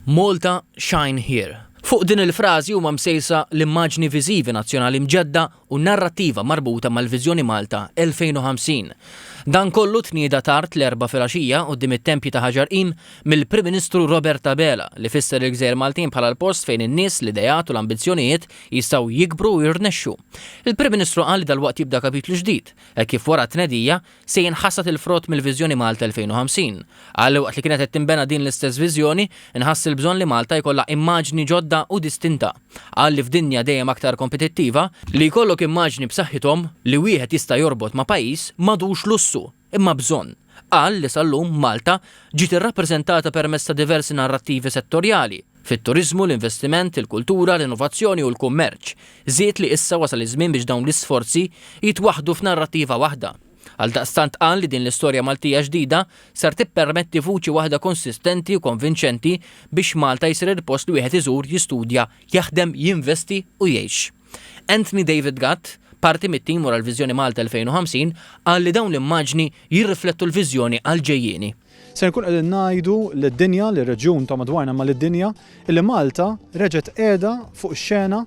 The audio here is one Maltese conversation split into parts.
Malta Shine Here. Fuq din il-frażi huma msejsa l-immaġni viżivi nazzjonali mġedda u n-narrattiva marbuta mal-Viżjoni Malta 2050. Dan kollu tnieda tard l-Erbgħa filgħaxija quddiem it-Tempji ta' Ħaġar Qim mill-Prim Ministru Robert Abela li fisser il-Gżejjer Maltin bħala l-post fejn in-nies, l-ideat u l-ambizzjonijiet jistgħu jikbru u jirnexxu. Il-Prim Ministru qal li dalwaqt jibda kapitlu ġdid, hekk kif wara t-tnedija, Se jinħasad il-frott mill-Viżjoni Malta 2050. Qal, Waqt li kienet qed tinbena din l-istess viżjoni, nħass il-bżonn li Malta jkollha immaġni ġodda u distinta. Qal li f'dinja dejjem aktar kompetittiva, li jkollok immaġni b'saħħithom li wieħed jista' jorbot ma' pajjiż m'għadux lussu imma bżonn. Qal li sal-lum Malta ġiet irrappreżentata permezz ta' diversi narrattivi settorjali, fit-turiżmu, l-investiment, il-kultura, l-innovazzjoni u l-kummerċ, żied li issa wasal iż-żmien biex dawn l-isforzi jitwaħħdu f'narrattiva waħda. Għaldaqstant qal li din l-istorja Maltija ġdida ser tippermetti vuċi waħda konsistenti u konvinċenti biex Malta jsir il-post li wieħed iżur, jistudja, jaħdem, jinvesti u jgħix. Anthony David Gatt, parti mit-tim wara l-Viżjoni Malta 2050, qal li dawn l-immaġni jirriflettu l-viżjoni għall-ġejjieni. Se nkunu qegħdin ngħidu lid-dinja, lir-reġjun ta' madwarna imma lid-dinja, illi Malta reġgħet qiegħda fuq ix-xena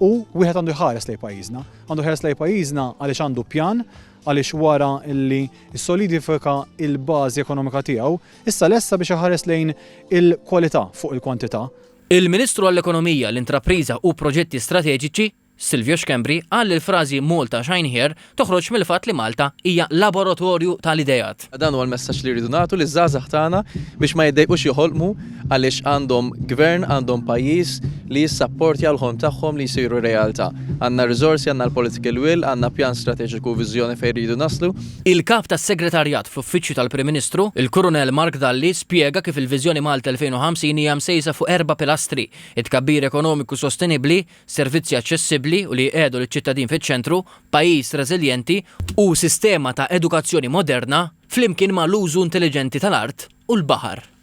u wieħed għandu jħares lejn pajjiżna. Għandu jħares lejn pajjiżna għaliex għandu pjan, għaliex wara li ssolidifika l-bażi ekonomika tiegħu, issa lesta biex iħares lejn il-kwalità fuq il-kwantità. Il-Ministru għall-Ekonomija, l-Intrapriża u Proġetti Strateġiċi, Silvio Schembri qal li l-frażi Malta Shine Here toħroġ mill-fatt li Malta hija laboratorju tal-ideat. Dan huwa l-messaġġ li rridu nagħtu liż-żgħażagħ tagħna biex ma jiddejqux joħolqmu għaliex għandhom Gvern, għandhom pajjiż li jissapportja l-ħolm tagħhom li jsiru realtà. Għandna r-riżorsi, għandna l-political will, għandna pjan strateġiku u viżjoni fejn rridu naslu. Il-Kap tas-Segretarjat fl-Uffiċċju tal-Prim Ministru, il-Kurunell Mark Dalli spjega kif il-Viżjoni Malta 2050 hija msejsa fuq erba' pilastri, it-tkabbir ekonomiku sostenibbli, servizzi aċċessibbli u li jqiegħdu liċ-ċittadin fiċ-ċentru, pajjiż reżiljenti, u sistema ta' edukazzjoni moderna, flimkien ma' l-użu intelliġenti tal-art u l-baħar.